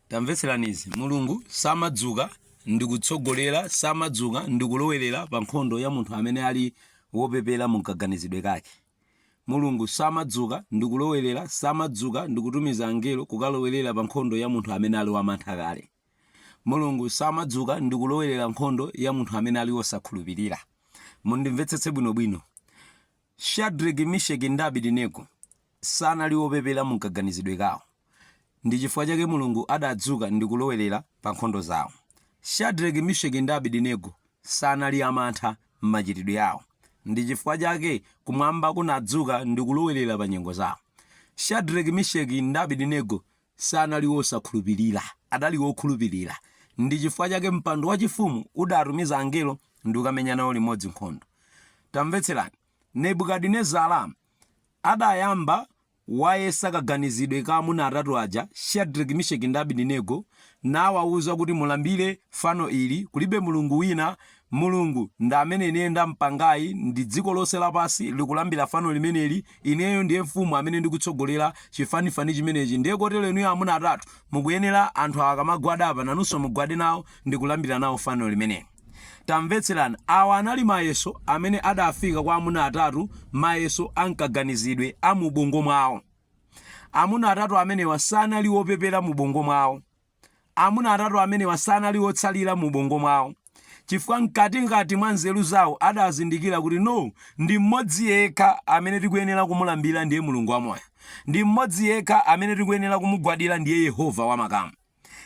tamvetseranizi mulungu samadzuka ndikutsogolera samadzuka ndikulowerera pa nkhondo ya munthu amene ali wopepera mumkaganizidwe kake mulungu samadzuka ndikulowerera samadzuka ndikutumiza angelo kukalowerera pa nkhondo ya munthu amene ali wamantha kale mulungu samadzuka ndikulowerera nkhondo ya munthu amene ali wosakhulupirira mundimvetsetse bwinobwino Shadreki, Misheki, ndi Abedinego sanali opepera mumkaganizidwe kawo. Ndi chifukwa chake Mulungu adadzuka ndi kulowelera pa nkhondo zawo. Shadreki, Misheki, ndi Abedinego sanali amantha m'machitidwe awo. Ndi chifukwa chake kumwamba kunadzuka ndi kulowelera pa nyengo zawo. Shadreki, Misheki, ndi Abedinego sanali wosakhulupirira, adali wokhulupirira. Ndi chifukwa chake mpando wachifumu udatumiza angelo ndi kukamenya nawo limodzi nkhondo. Tamvetserani, Nebukadinezara adayamba wayesa kaganizidwe ka amuna atatu aja, Shadreki, Misheki ndi Abidinego, nawauza kuti mulambire fano ili, kulibe Mulungu wina Mulungu ndi amene ine ndampangayi ndi dziko lonse lapansi likulambira fano limeneli, ineyo ndiye mfumu amene ndikutsogolera chifanifani chimenechi ndiye kotero inuyo amuna atatu mukuyenera anthu awa akamagwada apa nanunso mugwade nawo ndikulambira nawo fano limeneli. Tamvetserani, awa anali mayeso amene adafika kwa amuna atatu mayeso a mkaganizidwe a mu ubongo mwawo. Amuna atatu amenewa sanali opepera mu ubongo mwawo. Amuna atatu amenewa sanali otsalira mu ubongo mwawo, chifukwa mkatimkati mwa nzeru zawo adazindikira kuti no, ndi mmodzi yekha amene tikuyenera kumulambira ndiye Mulungu wa moyo. Ndi mmodzi yekha amene tikuyenera kumugwadira ndiye Yehova wa makamu.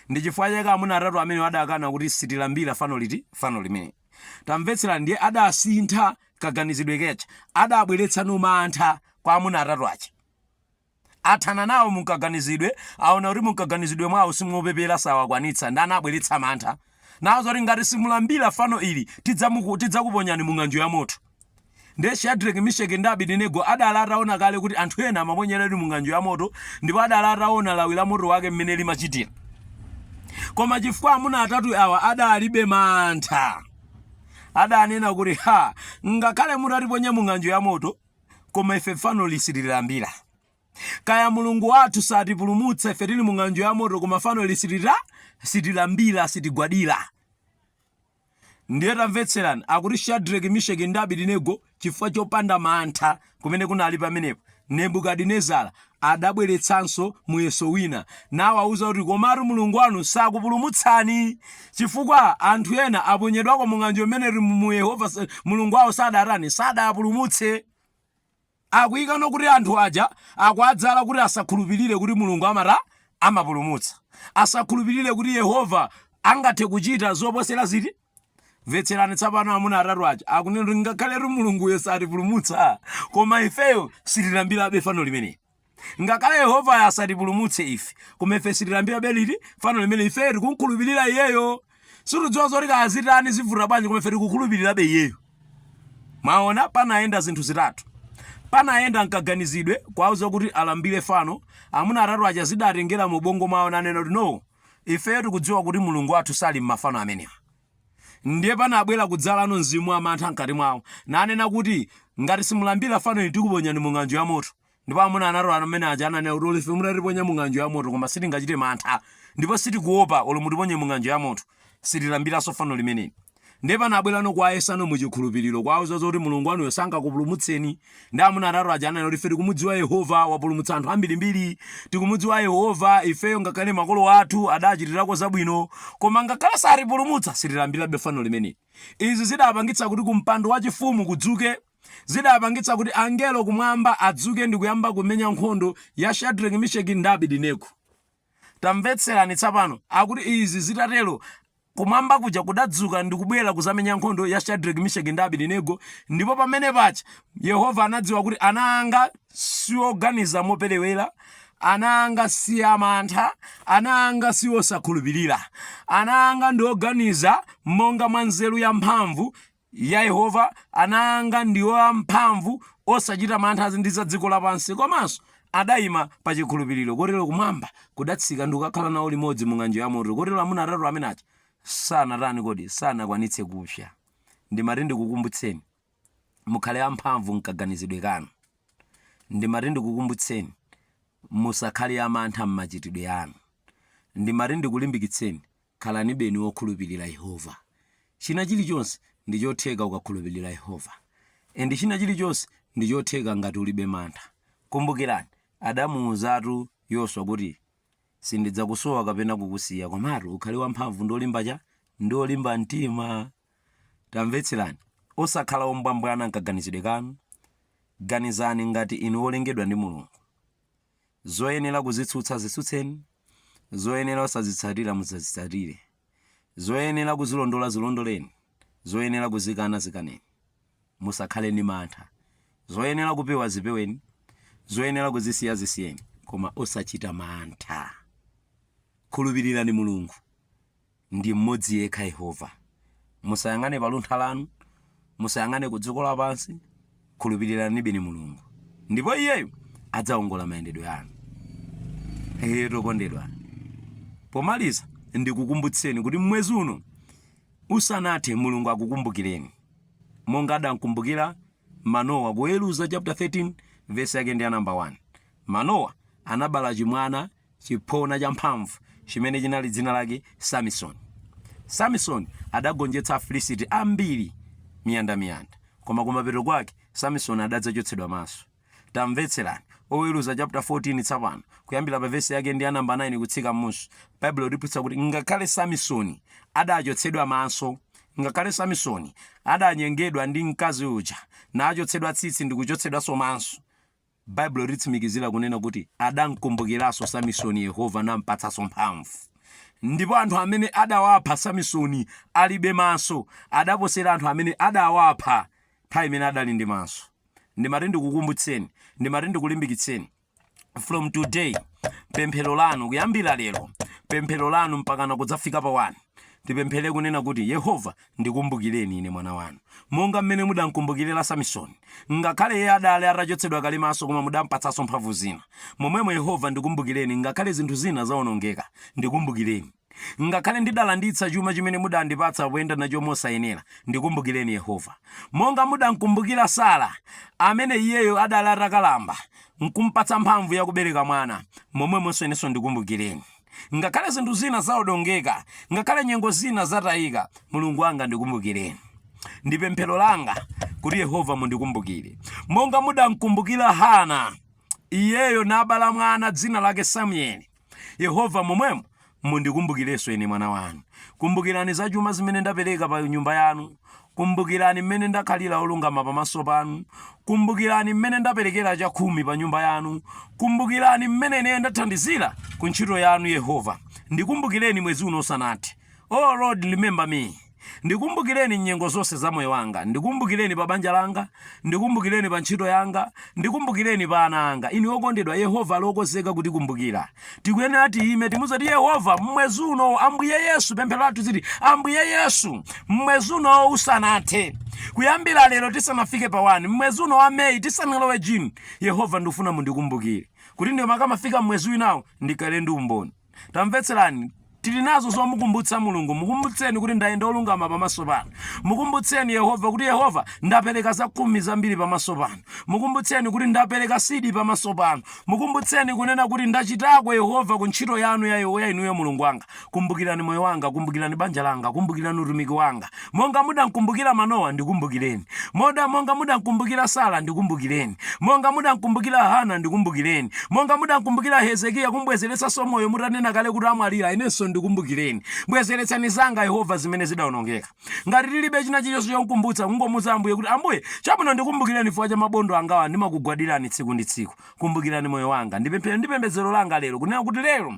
Ndi chifukwa chake amuna atatu amenewa adakana kuti sitilambira fano liti? Fano limeneli. Tamvetserani, ndiye adasintha kaganizidwe ke aja. Adabweretsa ano mantha kwa amuna atatu aja. Athana nawo munkaganizidwe, aona kuti munkaganizidwe mwawo simuopepera sawakwanitsa ndiye anabweretsa mantha nawauza kuti ngati simulambira fano ili tidzakuponyani mung'anjo yamoto ndiye Shadreki Misheki ndi Abidinego adali ataona kale kuti anthu ena amaponyedwadi mung'anjo yamoto ndipo adali ataona lawi la moto wake mmene limachitira koma chifukwa amuna atatu awa adalibe mantha adanena kuti ha ngakhale mutatiponya mung'anjo yamoto koma ife fanoli sitilambira kaya mulungu wathu satipulumutsa ife tili mu ng'anjo ya moto koma fanoli sitita sitilambira sitigwadira ndiye tamvetserani akuti shadreki misheki ndi abidinego chifukwa chopanda mantha kumene kunali pamenepo nebukadinezara Adabweretsanso muyeso wina, nawauza kuti, Komatu Mulungu wanu sakupulumutsani, chifukwa anthu ena aponyedwako mu ng'anjo imeneyi mu Yehova Mulungu wao sadatani, sadawapulumutse. Akuikano kuti anthu aja akuwadzala kuti asakhulupirire kuti Mulungu amata? Amapulumutsa. Asakhulupirire kuti Yehova angathe kuchita zoposera ziti? mvetserani tsapano amuna atatu aja akunena kuti ngakhaletu mulunguyo satipulumutsa koma ifeyo sitilambirabe fano limeneli ngakhale yehovayo asatipulumutse ife koma ife sitilambirabe liti fano limene ifeyo tikumkhulupirira iyeyo sitidziwa zoti kazitani zivuta bwanji koma ife tikukhulupirirabe iyeyo mwaona panayenda zinthu zitatu panayenda mkaganizidwe kuwauza kuti alambire fano amuna atatu aja zidatengera mu bongo mwawo nanena kuti no Ifeyo tikudziwa kuti Mulungu wathu sali m'mafano amenewa. Ndiye panabwera kudzalano mzimu wa mantha m'kati mwawo, nanena kuti, Ngati simulambira fano ili tikuponyani mu ng'anjo ya moto. Ndipo amuna atatu amene aja ananena kuti, Olo ife mutatiponya mu ng'anjo ya moto koma sitingachite mantha, ndipo sitikuopa, olo mutiponye mu ng'anjo ya moto. Sitilambiranso fano limeneli. Ndiye panabwerano kuwayesano mu chikhulupiriro, kuwauza zoti Mulungu wanuyo sangakupulumutseni. Ndiye amuna atatu aja ananena kuti, Ife tikumudziwa Yehova, wapulumutsa anthu ambirimbiri. Tikumudziwa Yehova, ifeyo ngakhale makolo athu adaachitirako zabwino. Koma ngakhale satipulumutsa, sitilambirabe fano limeneli. Izi zidaapangitsa kuti kumpando wachifumu kudzuke. Zidaapangitsa kuti angelo Kumwamba adzuke ndi kuyamba kumenya nkhondo ya Shadraki, Misheki ndi Abidinego. Tamvetserani tsapano, akuti izi zitatero, Kumwamba kuja kudadzuka ndi kubwera kuzamenya nkhondo ya Shadrack Misheki ndi Abidinego, ndipo pamene paja Yehova anadziwa kuti ana anga sioganiza moperewera, ana anga si amantha, ana anga si osakhulupirira, ana anga ndi oganiza monga mwa nzeru ya mphamvu Ya Yehova, ana anga ndiwo amphamvu, osachita mantha ndi za dziko lapansi, komanso adaima pa chikhulupiriro, kotero kumwamba kudatsika ndi kukakhala nawo limodzi mu ng'anjo yamoto, kotero amuna atatu amene aja sanatani kodi, sanakwanitse kupsa. Ndimati ndikukumbutseni, mukhale amphamvu m'kaganizidwe kanu. Ndimati ndikukumbutseni, musakhale amantha m'machitidwe anu. Ndimati ndikulimbikitseni, Khalanibeni wokhulupilira Yehova. China chilichonse ndichotheka ukakhulupilira Yehova. And china chilichonse ndichotheka ngati ulibe mantha. Kumbukirani, adamuuzatu Yoswa kuti, Sindidzakusowa kapena kukusiya, komatu ukhale wamphamvu ndi olimba cha? Ndi olimba mtima. Tamvetserani, osakhala ombwambwana mkaganizidwe kanu. Ganizani ngati inu wolengedwa ndi Mulungu. Zoyenera kuzitsutsa zitsutseni, zoyenera osazitsatira musazitsatire, zoyenera kuzilondola zilondoleni, zoyenera kuzikana zikaneni. Musakhale ndi mantha. Zoyenera kupewa zipeweni, zoyenera kuzisiya zisiyeni, koma osachita mantha. Khulupirirani Mulungu. ndi mmodzi yekha, Yehova. Musayang'ane pa luntha lanu, musayang'ane ku dziko lapansi, khulupiriranibeni Mulungu, ndipo Iyeyu adzawongola mayendedwe anu. Eyetu okondedwa, pomaliza ndikukumbutseni kuti mwezi uno usanathe Mulungu akukumbukireni monga adamkumbukira Manowa, Oweruza chapter 13 vesi yake ndi ya namba 1. Manowa anabala chimwana chiphona cha mphamvu chimene chinali dzina lake Samisoni. Samisoni adagonjetsa Afilisiti ambiri miyandamiyanda, koma kumapeto kwake Samisoni adadzachotsedwa maso. Tamvetserani Oweruza chapter 14 tsapano, kuyambira pa vesi yake ndi ya namba 9 kutsika m'munsi. Baibulo litiphunzitsa kuti ngakhale Samisoni adachotsedwa maso, ngakhale Samisoni adanyengedwa ndi mkazi uja, nachotsedwa tsitsi ndi kuchotsedwanso maso, Baibulo litsimikizira kunena kuti, Adamkumbukiranso Samisoni Yehova nampatsanso mphamvu. Ndipo anthu amene adawapha Samisoni alibe maso, adaposera anthu amene adawapha nthawi imene adali ndi maso. Ndimati ndikukumbutseni, ndimati ndikulimbikitseni, from today, pemphero lanu, kuyambira lero, pemphero lanu mpakana kudzafika pa 1, tipemphere kunena kuti, Yehova, Ndikumbukireni ine mwana wanu, monga m'mene mudamkumbukirira Samisoni, ngakhale iye adali atachotsedwa kale maso koma mudampatsanso mphamvu zina, momwemo Yehova ndikumbukireni, ngakhale zinthu zina zaonongeka, ndikumbukireni. Ngakhale ndidalanditsa chuma chimene mudandipatsa poyenda nacho mosayenera, ndikumbukireni Yehova. Monga mudamkumbukira Sara, amene iyeyo adali atakalamba, nkumpatsa mphamvu yakubereka mwana, momwemonso inenso ndikumbukireni. Ngakhale zinthu zina zaonongeka, ngakhale nyengo zina zatayika, Mulungu wanga ndikumbukireni. Ndi pemphero langa kuti Yehova mundikumbukire. Monga mudamkumbukira Hana, iyeyo nabala mwana dzina lake Samueli. Yehova momwemo mundikumbukirenso ine mwana wanu. Kumbukirani za chuma zimene ndapereka pa nyumba yanu Kumbukirani m'mene ndakhalira olungama pamaso panu, kumbukirani m'mene ndaperekera chakhumi pa nyumba yanu, kumbukirani m'mene ine ndathandizira ku ntchito yanu, Yehova, ndikumbukireni mwezi uno usanathe. O Lord, remember me. Ndikumbukireni m'nyengo zonse za moyo wanga, ndikumbukireni pa banja langa, Ndikumbukireni pa ntchito yanga, ndikumbukireni pa ana anga. Inu wokondedwa, Yehova ali wokonzeka kutikumbukira. Tikuyenera tiyime, timuze kuti, Yehova, m'mwezi uno, Ambuye Yesu, pemphero lathu ziti, Ambuye Yesu, m'mwezi uno usanathe, kuyambira lero tisanafike pa 1, m'mwezi uno wa May, tisanalowe June, Yehova, ndikufuna mundikumbukire, kuti ndikamafika m'mwezi winawo, ndikhale ndi umboni. tamvetserani tili nazo zomukumbutsa mulungu mukumbutseni kuti ndayenda wolungama pamaso panu mukumbutseni yehova kuti yehova ndapereka zakhumi zambiri pamaso panu mukumbutseni kuti ndapereka sidi pamaso panu mukumbutseni kunena kuti ndachitako yehova ku ntchito yanu ya inuyo mulungu wanga kumbukirani moyo wanga kumbukirani banja langa kumbukirani utumiki wanga Monga mudamkumbukira Manowa, ndikumbukireni. Monga mudamkumbukira Sara, ndikumbukireni. Monga mudamkumbukira Hana, ndikumbukireni. Monga mudamkumbukira Hezekiya kumbwezeretsa moyo mutanena kale kuti amwalira, inenso ndikumbukireni. Bwezeretsani zanga, Yehova, zimene zidawonongeka. Ngati tilibe china chilichonse chomkumbutsa, mungomuuza Ambuye kuti, Ambuye, chabwino ndikumbukireni chifukwa cha mabondo angawa ndimakugwadirani tsiku ndi tsiku. Kumbukirani moyo wanga. Ndi pemphero ndi pembedzero langa lero, kunena kuti lero,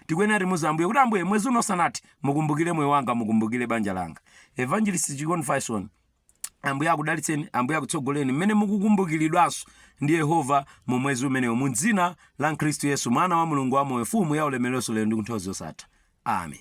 tikuyenera timuze ambuye kuti ambuye mwezi uno usanathe mukumbukire moyo wanga mukumbukire banja langa evangelist chikon faison ambuye akudalitseni ambuye akutsogoleni mmene mukukumbukiridwanso ndi yehova mu mwezi umenewo mu dzina la khristu yesu mwana wa mulungu wamoyo mfumu ya ulemerero lero ndi kunthawi zosatha amen